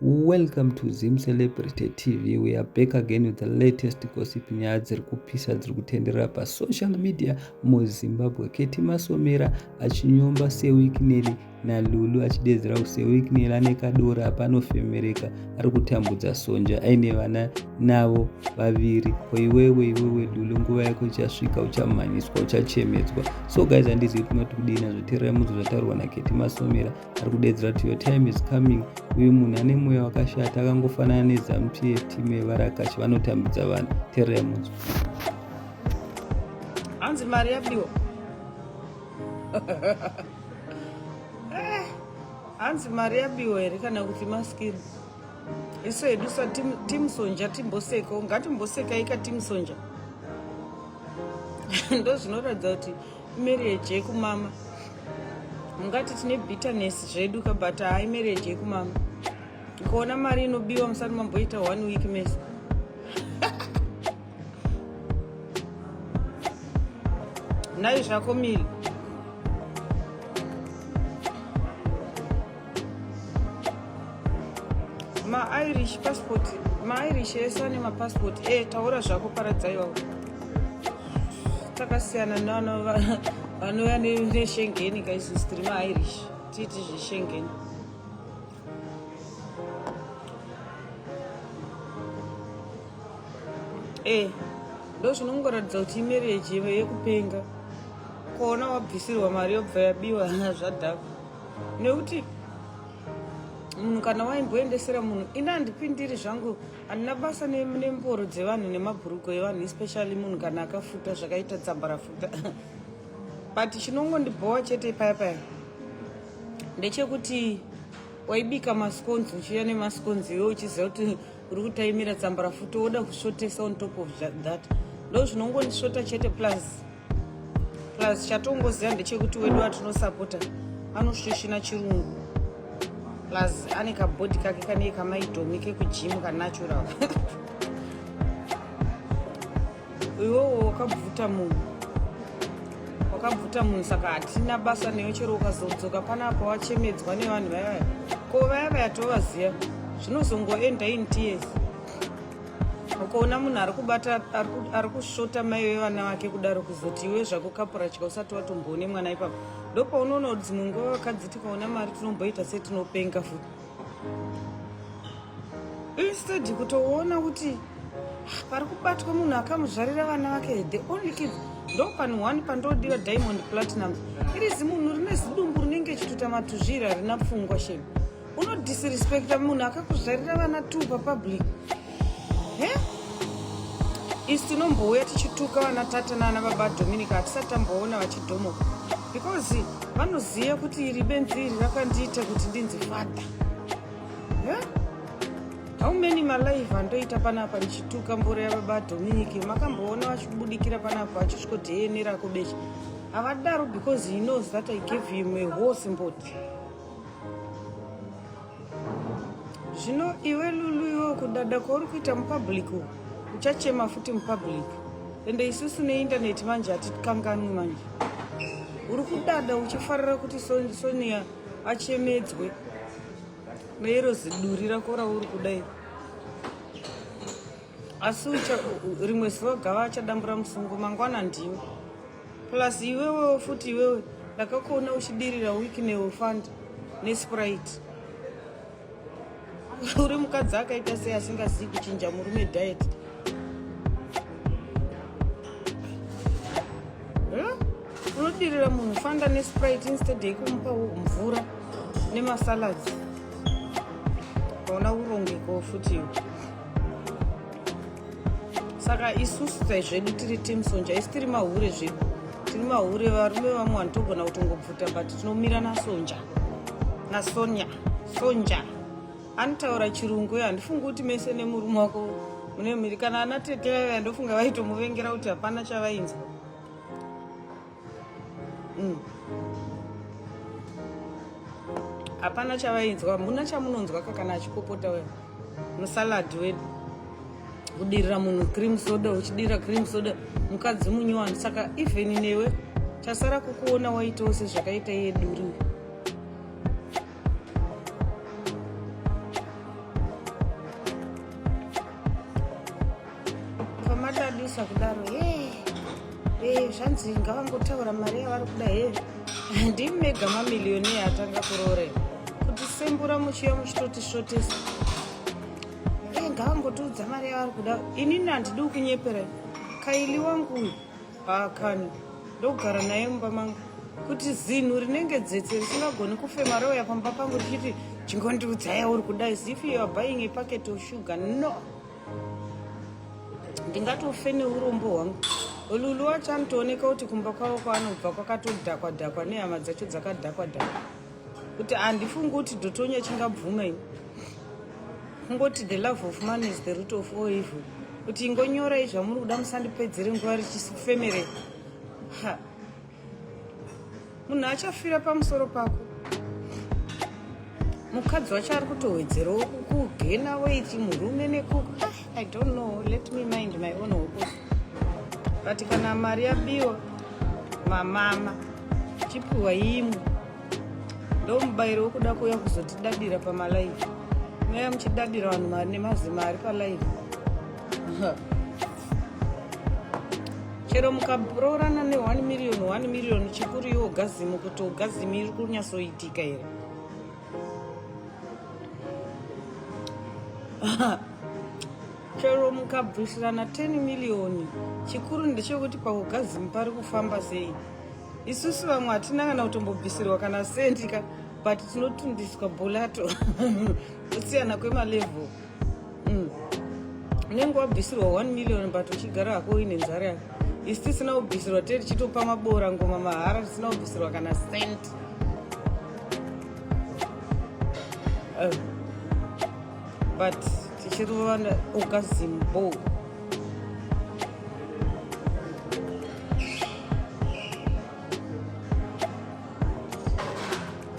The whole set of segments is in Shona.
Welcome to Zim Celebrity TV. We are back again with the latest gossip nyaya dziri kupisa dziri kutenderera pasocial media muzimbabwe keti masomera achinyomba sewikineri nalulu achidedzera kuti sewikineri ane kadoro apanofemereka ari kutambudza sonja aine vana navo vaviri ko iwewe iwewe lulu nguva yako ichasvika uchamhanyiswa uchachemedzwa so guys handizivi kunoti kudii nazvotererai munzwa zvataurwa naketi masomera ari kudedzera kuti your time is coming uyu munhu ane mweya wakashata akangofanana nezamp yetimu yevarakashi vanotambidza vanhu tererai munzwa hanzi mari yabiwa eh, hanzi mari yabiwa here kana kuti maskiri isu hedu sa tim sonja timboseko ngatimbosekai ka tim sonja ndo zvinoratidza kuti Marriage yekumama ungati tine bitterness zvedu ka but hayi marriage yekumama ukaona mari inobiwa musati mamboita one week mese nhai zvako mili mairish passport mairish ese ane mapassport e eh, taura zvako paradzaiwa takasiyana nano vanouya neshengeni kaizis tiri mairish tiiti zveshengeni e eh, ndo zvinongoratidza kuti imereji yekupenga kuona wabvisirwa mari yobva yabiwa zvadhakwa nekuti munhu kana waimboendesera munhu ini handipindiri zvangu handina basa nemboro dzevanhu nemabhurugo evanhu especially munhu kana akafuta zvakaita dzambarafuta but chinongondibhowa chete paya paya ndechekuti waibika masconzi uchiuya nemasconzi iwe uchiziva kuti uri kutaimira tsambarafuta woda kusvotesa on top of that ndo zvinongondisvota chete plus plus chatongoziva ndechekuti wedu watinosapota anoshoshina chirungu plus ane kabhodhi kake kanei kamaidomi kekujimu kanatural iwewo wakabvuta munhu wakabvuta munhu saka hatina basa neyo chero ukazodzoka pana apa wachemedzwa nevanhu vayavaya ko vaya vaya tovaziva zvinozongoenda in tears ukaona munhu ari kubata ari kusvota mai vevana vake kudaro kuzoti iwe zvako kapurachika usati watomboone mwana ipapo ndopaunoona kuti dzimwe nguva vakadzi tikaona mari tinomboita setinopenga futi instead kutoona kuti ah, pari kubatwa munhu akamuzvarira vana vake the only kid ndo panhu one pandodira diamond platinum iri zimunhu rine zidumbu rinenge chitutamatuzvira rina pfungwa shema unodisrespecta munhu akakuzvarira vana two papublic he isi tinombouya tichituka vana tata naana baba dominica hatisati tamboona vachidhomoka because vanoziva kuti iri benzi iri rakandiita kuti ndinzi father he how many malive andoita panapa ndichituka mboro yababa dominica makamboona vachibudikira panapa vachisviko dna rako beche havadaro because he knows that i gave him a whole symbody zvino iwe lulu iwe kudada kwauri kuita mupublic uchachema futi mupublic ende isusu neindaneti manje hatikanganwi manje uri kudada uchifarira kuti sonia achemedzwe neiro ziduri rako rauri kudai asi rimwe zuva gava achadambura musungo mangwana ndiwe plus iwewewo futi iwewe ndakakuona uchidirira wiki neofund nesprite uri mukadzi akaita sei asingazivi kuchinja murume diet unodirira munhu fanda nesprite instead yekumupa mvura nemasalads kaona urongekawo futi iwe saka isusu sai zvedu tiri team sonja isi tiri mahure zvedu tiri mahure varume vamwe vanhu togona kutongobvuta but tinomira nasonja nasonya sonja anotaura chirungu uyo handifungi kuti mese nemurume wako mune mhiri kana ana tete vaiva ndofunga vaitomuvengera kuti hapana chavainzwa mm. hapana chavainzwa muna chamunonzwa kakana achipopota we musalad wedu kudirira munhu cream soda uchidirira cream soda mukadzi munyowani saka even newe tasara kukuona waitawo sezvakaita iye duriwe kwamatadisa kudaro hee hee zvanzi ngavangotaura mari yavari kuda hee ndimi mega mamiliyoni atanga kuroore kuti sembura muchiya muchitoti svotesa hee ngavangotiudza mari yavari kuda inini handidi kunyepera kaili wangu uyu haakani ndogara naye mumba mangu kuti zinhu rinenge dzetse risingagoni kufema rouya pamba pangu richiti chingondiudza yauri kudai zifi yoabuying a packet of sugar no ndingatofe neurombo hwangu lulu wacho anotooneka kuti kumba kwavo kwaanobva kwakatodhakwa dhakwa nehama dzacho dzakadhakwa dhakwa kuti handifungi kuti dotonya chingabvuma ini kungoti the love of man is the root of all evil kuti ingonyorai zvamuri kuda musandipedzere nguva richisifemere ha munhu achafira pamusoro pako mukadzi wacho ari kutowedzerawo kugena weiti murume nekuku ah, i don't know let me mind my own hokus but kana mari yabiwa mamama chipiwa imwe ndomubairo wokuda kuuya kuzotidadira pamalaivi muya muchidadira vanhu mari nemazima ari palaivi chero mukaroorana ne 1 million 1 million chikuru iwo gazimu kuti ugazimu iri kunyatsoitika here chero mukabvisirana 10 million chikuru ndechekuti paugazimu pari kufamba sei isusu vamwe hatina kana kutombobvisirwa kana sendi ka but tinotundiswa bolato kusiyana kwemalevel mm. unenge wabvisirwa 1 million but uchigara hako uine nzara yako isi tisina kubvisirwa tee tichitopa maboora ngoma mahara tisina kubvisirwa kana cent uh. but tichirova ukazimbo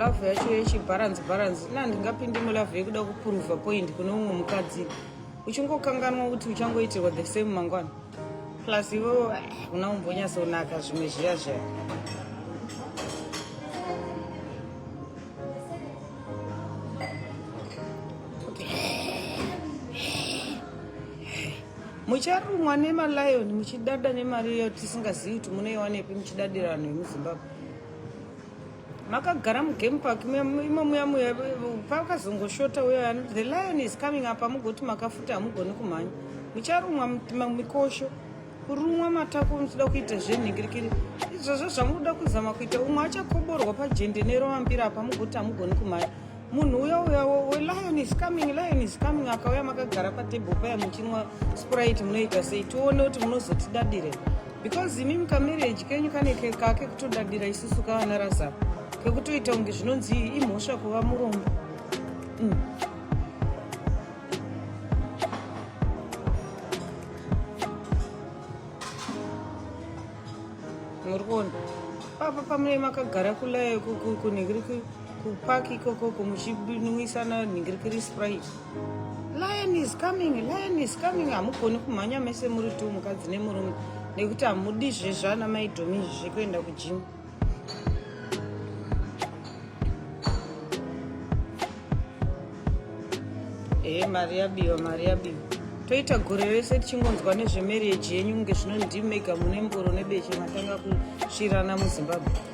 love yacho yechibharanzi bharanzi na ndingapindi mulove yekuda kupuruva point kune umwe mukadzi uchingokanganwa kuti uchangoitirwa the same mangwana plus ivo eh, una umbonyatsonaka zvimwe zviya zviya mucharumwa nemalion muchidada nemari iyo tisingazivi kuti munoiwanepi muchidadira vanhu vemuzimbabwe makagara mugame park imo muya muya pakazongoshota uya the lion is coming up amugoti makafuta hamugoni kumhanya mucharumwa mikosho kurumwa matako muchida kuita zvenhingirikiri izvozvo zvamunoda kuzama kuita umwe achakoborwa pajendenero vambira apa mugoti hamugoni kumhanya munhu uya uya lion is coming lion is coming akauya makagara patable paya muchinwa sprite munoita sei tione kuti munozotidadire because imi mukamarriage kenyu kane kake kutodadira isusu kavana razaro kekutoita kunge zvinonzi imhosva kuva murombo mm. muri kuona papa pamune makagara kulaya kunhekirikiri Kupark ikoko kumuchinwisa na nhingirikiri sprite. Lion is coming, lion is coming. Hamugoni kumhanya mese muri tu mukadzi nemurume nekuti hamudi zvezvana maidhomi izvi zvekuenda kujimu. Ehe, mari yabiwa, mari yabiwa. Toita gore rese tichingonzwa nezvemarriage yenyu kunge zvino ndimega mune mboro nebeche matanga kusvirana muZimbabwe.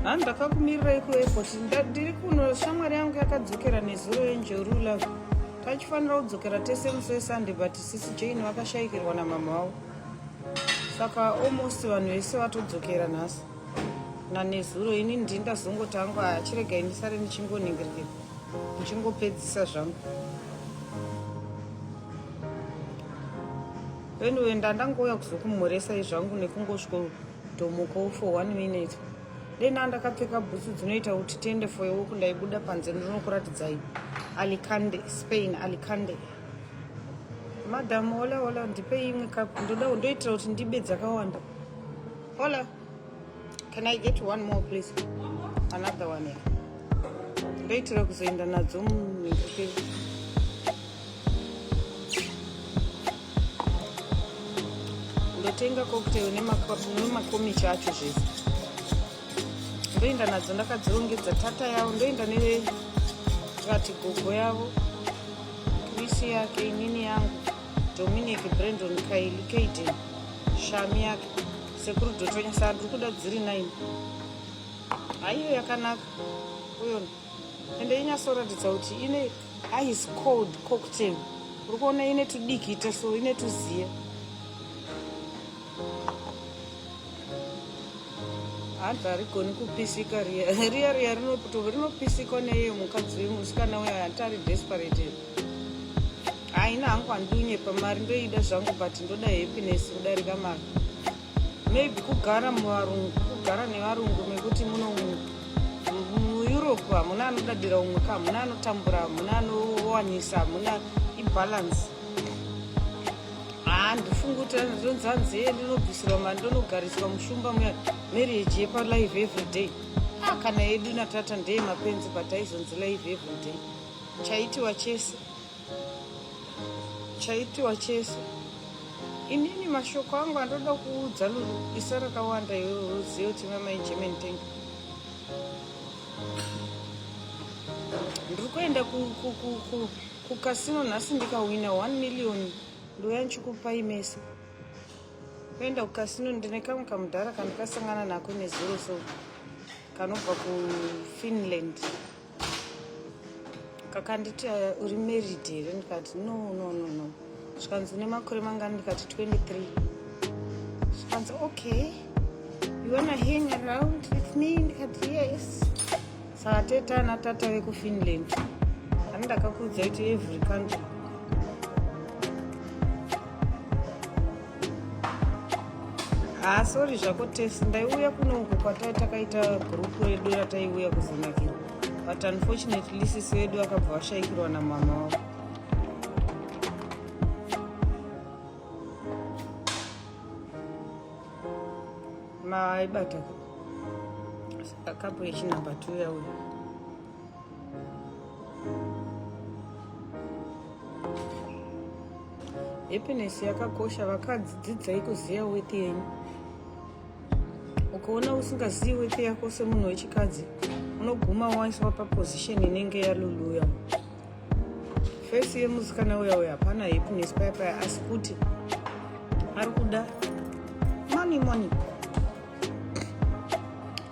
ha ndakakumirirai kuairport ndiri kuno shamwari yangu yakadzokera nezuro yenjeru love tachifanira kudzokera tese musi wesunday but sisi jane vakashayikirwa namama wavo saka almost vanhu vese vatodzokera nhasi nanezuro ini ndini ndazongoti angu achiregai ndisare ndichingoningirike ndichingopedzisa zvangu anyway ndandangouya kuzokumhoresa izvangu nekungosviko dhomoka for one minute dena ndakapfeka bhutsu dzinoita kuti tiende for yewoku ndaibuda panze ndinokuratidzai alicande spain alicande madam ola ola ndipei imwe kapu ndoda ndoitira kuti ndibe dzakawanda Hola. Can I get one more please? Another one here. Ndoitira kuzoenda nadzo mumhiri. ndatenga cocktail nemakomichi acho zvese ndoenda nadzo ndakadzirongedza tata yavo ndoenda nevati gogo yavo krisi yake inini yangu Dominic, Brandon, Kaili, Kaiden, Shami yake sekuru Dotonya saka ndiri kuda dziri nine. Haiyo yakanaka uyo ende inyasoratidza kuti ine ice cold cocktail uri kuona ine tudikita so ine tuziya hanzi harigoni kupisika riya riya riya rinopisikwa neye mukadzi wemusikana uya hanti ari desperate haina hangu handinyepa mari ndoida zvangu but ndoda happiness kudarika mari maybe kugara muvarungu kugara nevarungu mekuti muno mueurope hamuna anodadira umwe ka hamuna anotambura hamuna anowanisa hamuna ibalance handifungi kuti ndonzanzi e ndinobvisirwa mari ndonogariswa mushumba muya marriage yepalive everyday ah, kana yedu natata ndeye mapenzi but aizonzi live everyday chaitiwa chese chaitiwa chese inini mashoko angu andoda kuudza lulu isa rakawanda iwewe uzive kuti mamai german tank ndiri kuenda kukasino nhasi ndikahwina 1 million ndouya ndichikupai mese kuenda kukasino ndine kamwe kamudhara kandikasangana nako nezuro so kanobva kufinland kakanditi uh, uri married here ndikati no no no no zvikanzi une makore mangani ndikati 23 zvikanzi okay you wanna hang around with me ndikati yes saka tete ana tata vekufinland ani ndakakuudza kuti every country Ah, sorry zvako test ndaiuya kuno uko kwatai takaita group redu rataiuya kuzonakira but unfortunately sisi vedu vakabva vashaikirwa namama wavo maaibata kapo yechinumber two yauya happiness yakakosha vakadzi dzidzai kuziva weti yenyu ukaona usingazivi weti yako semunhu wechikadzi unoguma waiswa paposition inenge yaluluya fesi yemusikana uya uya hapana happiness paya paya asi kuti ari kuda money money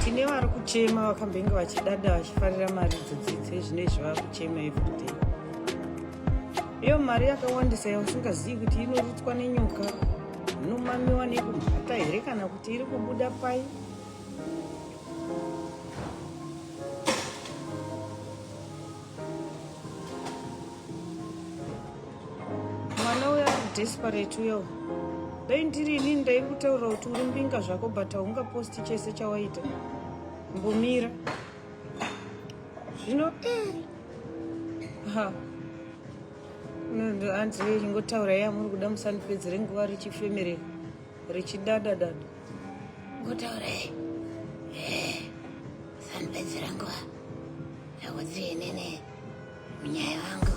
tine vari kuchema vakambenge vachidada vachifarira mari dzodzidze zvino izvi vava kuchema everyday iyo mari yakawandisa yausingazivi kuti inorutswa nenyoka inomamiwa nekumhata here kana kuti iri kubuda pai mwana uyo ari desperate uyo dai ndiri ini ndaikutaurira kuti uri mbinga zvako but haungaposti chese chawaita mbomira zvino eh. ha hanzi ingotaura yamuri kuda musandipedzere nguva richifemere richidadadada Ngutaure. Eh. Sanipedzera nguva. Yakuti inene. Munyaya wangu.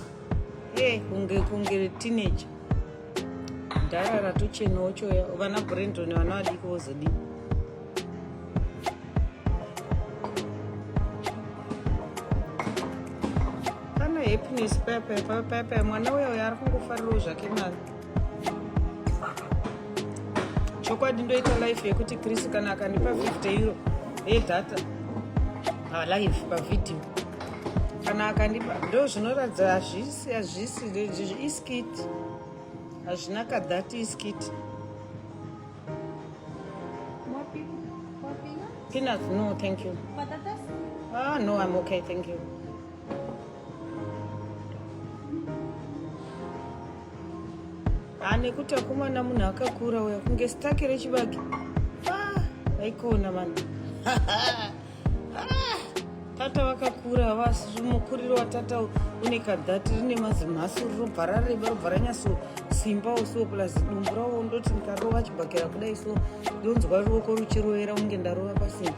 Eh, kunge kunge teenager. Ndara ratuchena ochoya. Vana Brandon vana vadiki vozodii. happiness pepe pepe mwana uya uya ari kungofarirawo zvake mwana chokwadi ndoita life yekuti chris kana akandipa 50 euro yedhata ah, live pavhidhiyo kana akandipa ndo zvinoratidza hazvisi hazvisi iskiti hazvina kadhati iskiti peanuts no thank you ah no i'm okay thank you ane kuti akomana munhu akakura uya kunge stake rechibage vaikona ah, vanhu ah, tata vakakura havasi mukuriro watata une kadhati rine mazimhasi rinobva rareba robva ranyaso simba usiwo plus dumbu rawo ndoti ndikarova chibhakera kudai so ndonzwa ruoko ruchirovera kunge ndarova pasimba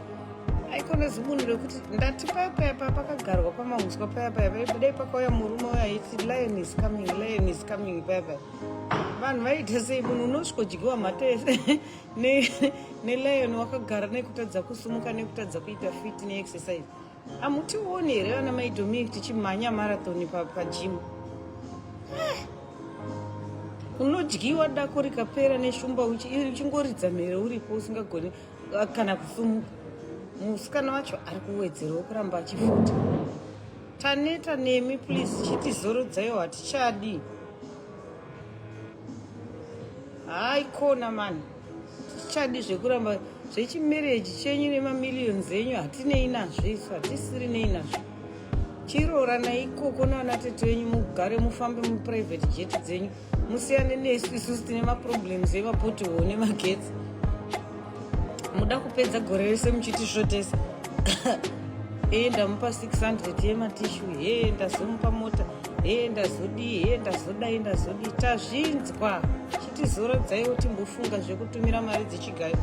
aikona zibunhu rekuti ndati paya paya paya pakagarwa pamahuswa paya paya dai pakauya murume uyo aiti lion is coming lion is coming paya paya vanhu vaiita sei munhu unosvikodyiwa mhata yese nelion wakagara nekutadza kusumuka nekutadza kuita fit neexercise hamutioni here vana maidominic tichimhanya marathon pajim eh, unodyiwa dako rikapera neshumba uchingoridza mhere uripo usingagoni kana kusumuka musikana wacho ari kuwedzerwa kuramba achifuta taneta nemi please chitizorodzayo hatichadi hayi kona mani tichadi zvekuramba zvechimereji chenyu nemamillions enyu hatinei nazvo isu hatisiri nei nazvo chiroora naikoko naana tete venyu mugare mufambe muprivate jet dzenyu musiyane nesu isusu tine maproblems emapotiwo nemagetsi muda kupedza gore rese muchitisvotesa ee ndamupa 600 yematishu hee ndazomupa mota hee ndazodii hee ndazodai ndazodii tazvinzwa chitizorodzaiwo timbofunga zvekutumira mari dzechigayo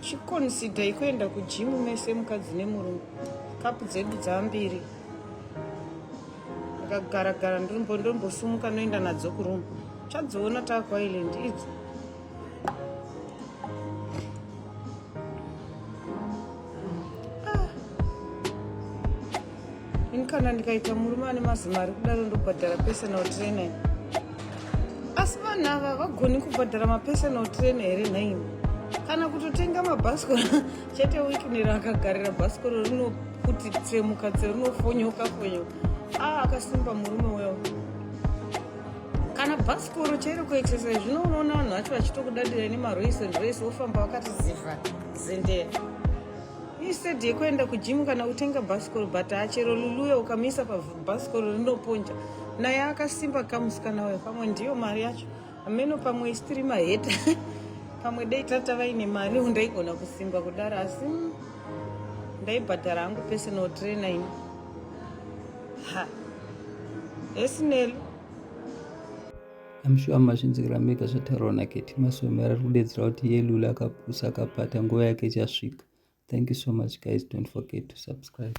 chikonsidai kuenda kujimu mese mukadzi nemurume kapu dzedu dzambiri akagara gara ndombo ndombosumuka noenda nadzo kuroom chadziona takwa island idzo ini kana ndikaita murume ane mazimari kudaro ndobhadhara personal trainer asi vanhu ava vagoni kubhadhara mapersonal trainer here nhaimi kana kutotenga mabhasikoro chete wikinero akagarira bhasikoro rino kuti tsemuka dzeunofonyoka fonyoka aa akasimba murume wewo kana bhasikoro chairo kuitisa zvino unoona vanhu vacho vachitokudadira nemaroise nroise wofamba wakati ziva zendera isedi yekuenda kujimu kana kutenga bhasikoro but achero luluya ukamisa pabhasikoro rinoponja naye akasimba kamusikana uyo pamwe ndiyo mari yacho Ameno pamwe isitiri maheta pamwe dai tata vaine mari ndaigona kusimba kudaro asi mm, ndaibhadhara hangu personal trainer ini ha esinel amshuwa mazvinzikira mega zvataurwa naketi masomera ari kudedzera kuti yelula akapusa akapata nguva yake ichasvika thank you so much guys don't forget to subscribe